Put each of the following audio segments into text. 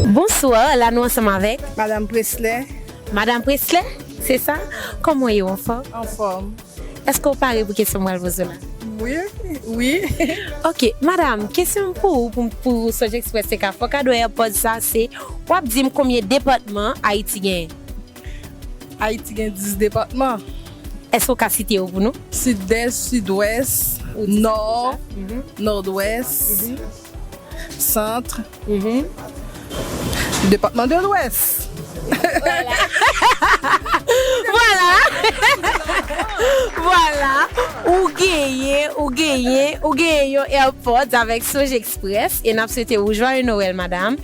Bonswa, la nou ansanm avèk. Madam Presley. Madam Presley, se sa? Kòman w ye w anfòm? Anfòm. Èske w pare pou kesyon m pral poze w la? Wi, wi. Ok, madam, kesyon m pou ou pou pou Sonjèksprès te ka fòkadòyè pòz sa se, w ap di m konbyen depatman Ayiti genyen? Ayiti gen 10 depatman. Èske ou ka site yo pou nou? Sidès, Sidwès, Nò, Nòdwès, Santr, Depatman de Lwès. Vwala! Vwala! Ou genyen, ou genyen, ou genyen yon Airpods avèk Sojexpress e n ap swete ou Jwaye Nowèl, madam.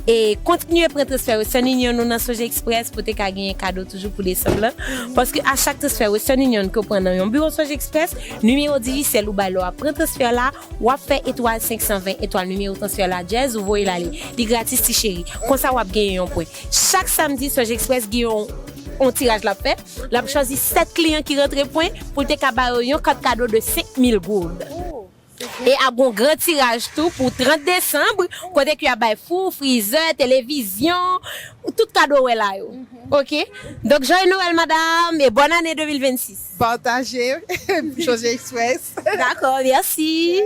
E kontinye pran transfè Western Union nou nan Sonje Express pou te ka genyen kado toujou pou desanm lan. Paske a chak transfè Western Union ke w pran nan yon biwo Sonje Express, nimewo dijisyèl ou bay lè w ap pran transfè la, w ap fè etwal 520 etwal nimewo transfè la djèz ou voye l ale. Li gratis ti cheri. Konsa w ap genyen yon pwen. Chak samdi Sonje Express gen yon tiraj l ap fè. L ap chwazi 7 kliyan ki rantre pwen pou l te ka ba yo yon kat kado de 5000 gourd. E ap gen yon gran tiraj tou pou 30 desanm kote ke y ap bay fou, frizè, televizyon, tout kado wè la yo. Ok. Donk Joyeux Noël madam e Bonne Année 2026. Pataje Josy Express. Dakò, mèsi.